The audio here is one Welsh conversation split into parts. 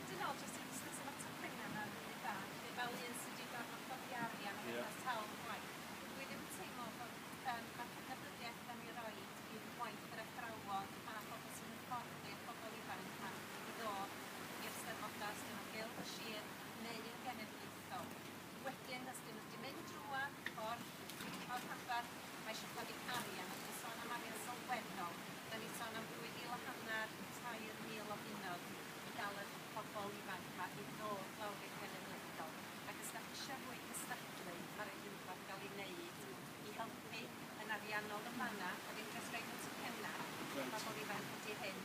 Dwi me'wl jyst yn busnes efo tipyn yna ma'n rili da felly fel un sy 'di gorfod codi arian ac efo sawl gwaith dwi ddim yn teimlo bo' yym ma' cydnabyddiaeth 'dan ni roid i gwaith yr athrawon a phobol sy'n hyfforddi'r bobol ifanc 'ma i ddod i'r Steddfoda os 'dyn nhw'n Gylch y Sir neu yn genedlaethol wedyn os 'dyn nhw 'di mynd drwadd y ffordd dwi 'di ca'l rhanbarth ma' isio codi arian os ti'n sôn am arian sylweddol 'dan ni'n sôn am ddwy fil a hannar i tair mil o bunnoedd i gael eich pobl ifanc ma i ddod lawr i'r Gelyn Ysgol ac os dach isio fwy cystadlu ma raid rhywbeth gael i neud i helpu yn ariannol yn fanna a ddim jyst roid y tocynna i bobl ifanc ydi hyn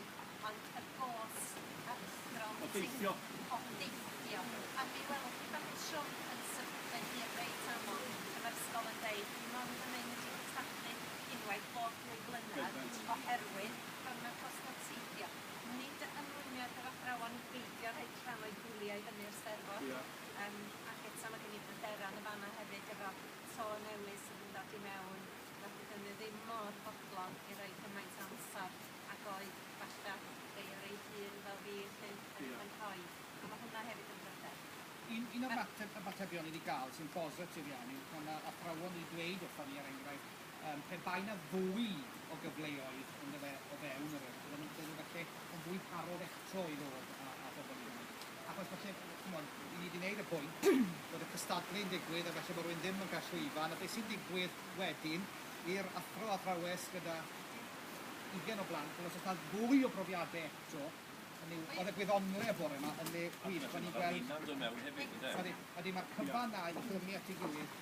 ond y gôst athro o deithio o deithio a mi welwch chi pan fydd Siôn yn symud ei hun reit aml pan ma'r ysgol yn deud dwi mond yn mynd i gystadlu unwaith bob dwy flynedd oherwydd pan ma'r cost o teithio Nid ymrwymiad yr athrawon i beidio rhoi crannoedd bwlio i fyny'r Steddfod. Ia. Yym ac eto ma' gen i bryderan yn fan 'na hefyd efo to newydd sydd yn dod i mewn na fyddwn ni ddim mor fodlon i roi cymaint o amsar ag oedd falla rhei o rei hŷn fel fi felly yn... Ia. ...yn rhoi a ma' hwnna hefyd yn bryder. Un un o'r mateb ymatebion i ni ga'l sy'n bositif iawn yw pan ma' athrawon wedi dweud wrthon ni er enghraifft Yym, pe bai 'na fwy o gyfleoedd yndyfe o fewn yr yrff, bydden nhw'n bydden nhw falle yn fwy parod eto i ddod â â pobl i fyny. Achos falle, ch'mod, 'yn ni 'di neud y pwynt bod y cystadlu'n digwydd a falle bod rywun ddim yn cael llwyfan, a be' sy'n digwydd wedyn i'r athro athrawes gyda ugen o blant, wel os o's 'na fwy o brofiade eto, hynny yw, o'dd y gwyddonle bore 'ma yn le gwych, o'n i'n gweld... Odi, ma'r cyfan 'na i glymu at ei gilydd.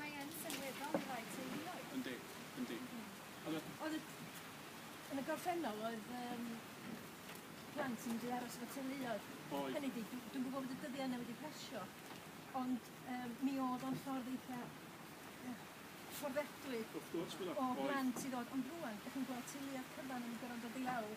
Mae yn sylweddol i rai teuluoedd. Yndi, yndi. Oedd y... Yn y gorffennol oedd um, plant yn mynd i aros efo teuluoedd. Oedd. Hynny di, dwi'n dwi gwybod bod y dyddiau yna wedi pasio, ond um, mi oedd o'n ffordd eitha fforddedwy o blant i ddod. Ond rwan, ydych chi'n gweld teuluoedd cyfan yn gorfod dod i lawr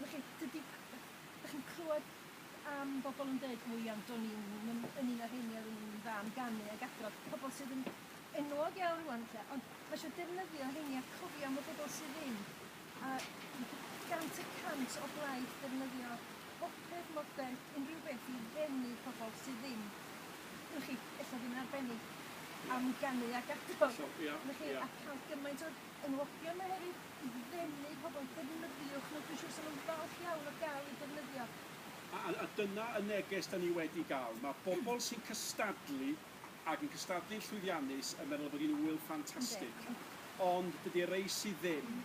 W'ch chi, dydi... Dych chi'n clywed am bobl yn dweud, o ia, ond o'n i'n yn yn un o'r rheiny oedd yn fân ganu ac adrodd, pobl sydd yn enwog iawn rwan 'lly, ond mae eisiau defnyddio rheiny a cofio am y bobl sydd ddim, a gant y cant o blaid defnyddio bopeth modern, unrhyw beth i ddenu pobl sydd ddim, w'ch chi, ella ddim yn arbennig am ganu ac adrodd, w'ch chi, a cael gymaint o Enwogion nhw hefyd i ddenu pobl, defnyddiwch nhw, dwi'n siŵr 'sa nhw'n falch iawn o gael eu defnyddio. A, a, a dyna y neges 'da ni wedi gael. Mae bobl sy'n cystadlu ac yn cystadlu'n llwyddiannus yn meddwl eu bod hi'n ŵyl ffantastig, ond dydi'r rei sydd ddim,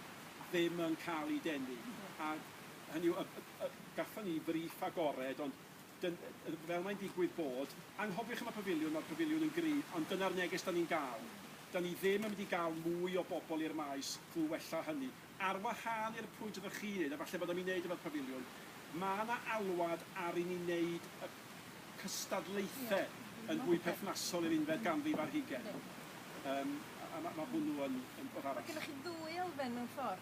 ddim yn cael eu denu. A hynny yw, y, y, y, gathon ni frîff agored, ond Dyn- yy fel mae'n digwydd bod. Anghofiwch am y pafiliwn, mae'r pafiliwn yn gry, ond dyna'r neges 'da ni'n gael. 'Da ni ddim yn mynd i gael mwy o bobl i'r maes, drwy wella hynny. Ar wahân i'r pwynt oeddech chi'n neud, a falle bod am i neud efo'r pafiliwn, ma' 'na alwad ar i ni neud y cystadlaethe yn fwy perthnasol i'r unfed ganrif ar hugain. Yym a a ma' ma' hwnnw yn yn ffor arall. Ma' gynnoch chi ddwy elfen mewn ffor.